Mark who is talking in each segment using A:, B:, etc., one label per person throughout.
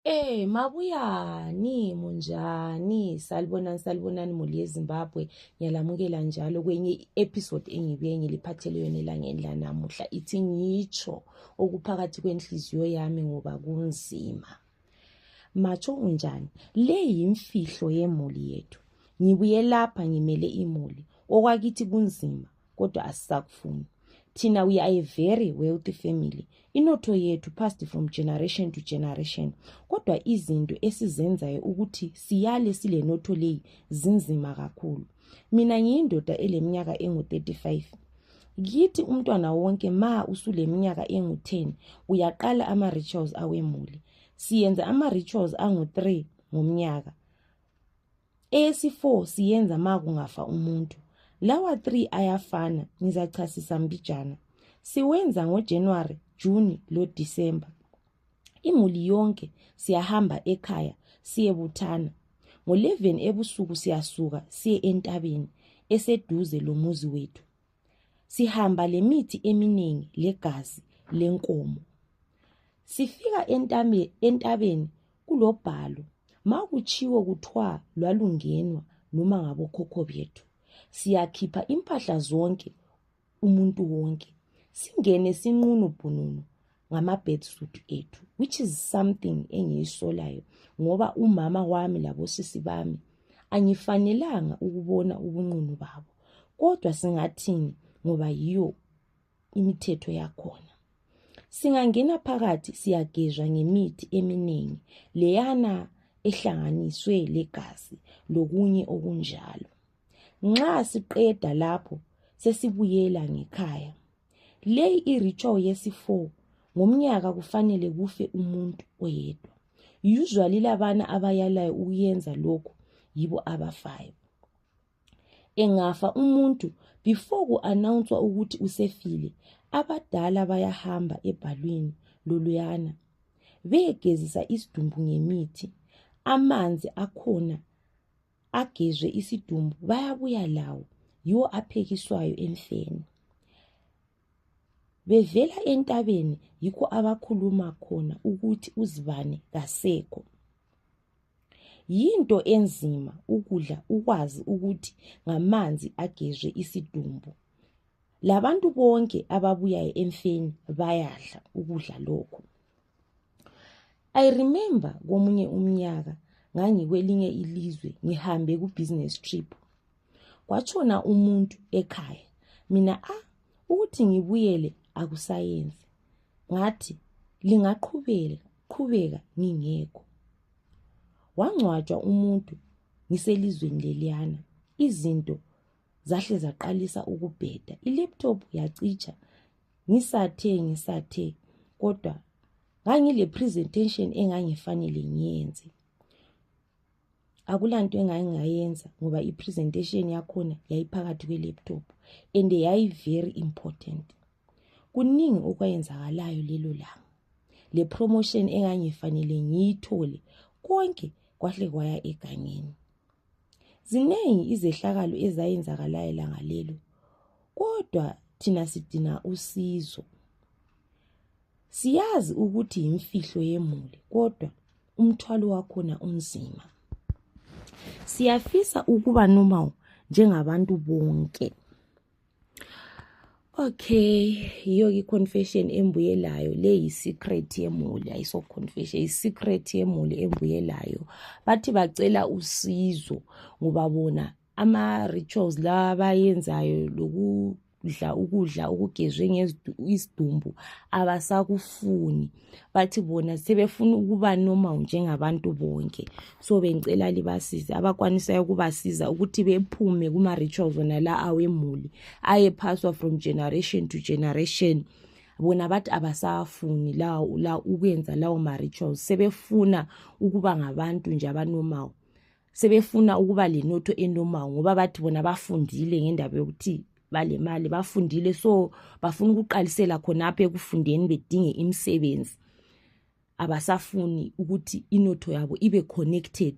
A: Eh mabuyani munjani salibonani salibonani muli yezimbabwe ngiyalamukela njalo kwenye i-episode engibuye ngiliphathele yona elangeni lanamuhla ithi ngitsho okuphakathi kwenhliziyo yami ngoba kunzima matsho unjani le yimfihlo yemuli yethu ngibuye lapha ngimele imuli okwakithi kunzima kodwa asisakufuni thina we are a very wealthy family inotho yethu passed from generation to generation kodwa izinto esizenzayo ukuthi siyale silenotho leyi zinzima kakhulu mina ngiyindoda eleminyaka engu-35 kithi umntwana wonke ma usuleminyaka engu-10 uyaqala ama-rituals awemuli siyenza ama-rituals angu-3 ngomnyaka eyesi-4 siyenza ma kungafa umuntu lawa 3 ayafana ngizachasisa mbijana siwenza ngojanuwari juni lodisemba imuli yonke siyahamba ekhaya siyebuthana ngo-11 ebusuku siyasuka siye entabeni eseduze lomuzi wethu sihamba lemithi eminingi legazi lenkomo sifika entabeni kulobhalo ma kutshiwo kuthwa lwalungenwa noma ngabokhokho bethu siyakhipha impahla zonke umuntu wonke singene sinqunu bhununu ngama-bed suit ethu which is something engiyisolayo ngoba umama wami labosisi bami angifanelanga ukubona ubunqunu babo kodwa singathini ngoba yiyo imithetho yakhona singangena phakathi siyagezwa ngemithi eminingi leyana ehlanganiswe legazi lokunye okunjalo nxa siqeda lapho sesibuyela ngekhaya leyi iritual yesi-4 ngomnyaka kufanele kufe umuntu oyedwa usually labana abayalayo ukuyenza lokhu yibo abafayo engafa umuntu before ku anawunswa ukuthi usefile abadala bayahamba ebhalwini loluyana beyegezisa isidumbu ngemithi amanzi akhona agezwe isidumbu bayabuya lawo yiwo aphekiswayo emfeni bevela entabeni yikho abakhuluma khona ukuthi uzibani kasekho Yinto enzima ukudla ukwazi ukuthi ngamanzi agezwe isidumbu. Labantu bonke ababuyayo emfeni bayadla ukudla lokhu. I remember komunye umnyaka ngangikwelinye ilizwe ngihambe ku business trip. kwatshona umuntu ekhaya mina a ah, ukuthi ngibuyele akusayenzi ngathi lingaqhubela qhubeka ngingekho wangcwatshwa umuntu ngiselizweni leliyana izinto zahle zaqalisa ukubheda ilaptop yacitsha ngisathe ngisathe kodwa ngangile presentation engangifanele ngiyenze akulanto engangingayenza ngoba i-presentation yakhona yayiphakathi kwe-laptop and yayi-very important kuningi okwayenzakalayo lelo langa le promotion engangifanele ngiyithole konke kwahle kwaya egangeni ziningi izehlakalo ezayenzakalayo langa lelo kodwa thina sidinga usizo Siyazi ukuthi yimfihlo yemuli kodwa umthwalo wakhona unzima. Siyafisa ukuba normal njengabantu bonke. Okay, yiyo ke confession embuyelayo le yi secret yemuli ayiso confession yi secret yemuli embuyelayo. Bathi bacela usizo ngoba bona ama-rituals lawa abayenzayo lokudla ukudla okugezwe isidumbu abasakufuni bathi bona sebefuna ukuba normal njengabantu bonke so bengicela libasize abakwanisayo ukubasiza ukuthi bephume kuma-rituals wona la awemuli ayephaswa from generation to generation bona bathi abasafuni la ukwenza lawo ma-rituals sebefuna ukuba ngabantu nje abanomawo sebefuna ukuba lenotho enomawo ngoba bathi bona bafundile ngendaba yokuthi balemali bafundile so bafuna ukuqalisela khonapho ekufundeni bedinge imisebenzi abasafuni ukuthi inotho yabo ibe connected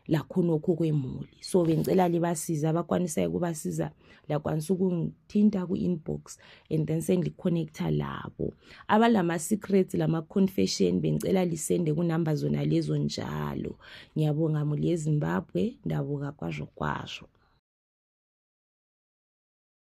A: lakhonokho kwemuli so bengicela libasiza abakwanisayo ukubasiza liyakwanisa ukungithinta ku-inbox and then sengiliconnecta labo abalama-secrets lama-confession bengicela lisende kunumber zona lezo njalo ngiyabonga muli yezimbabwe ndabuka kwazho kwazho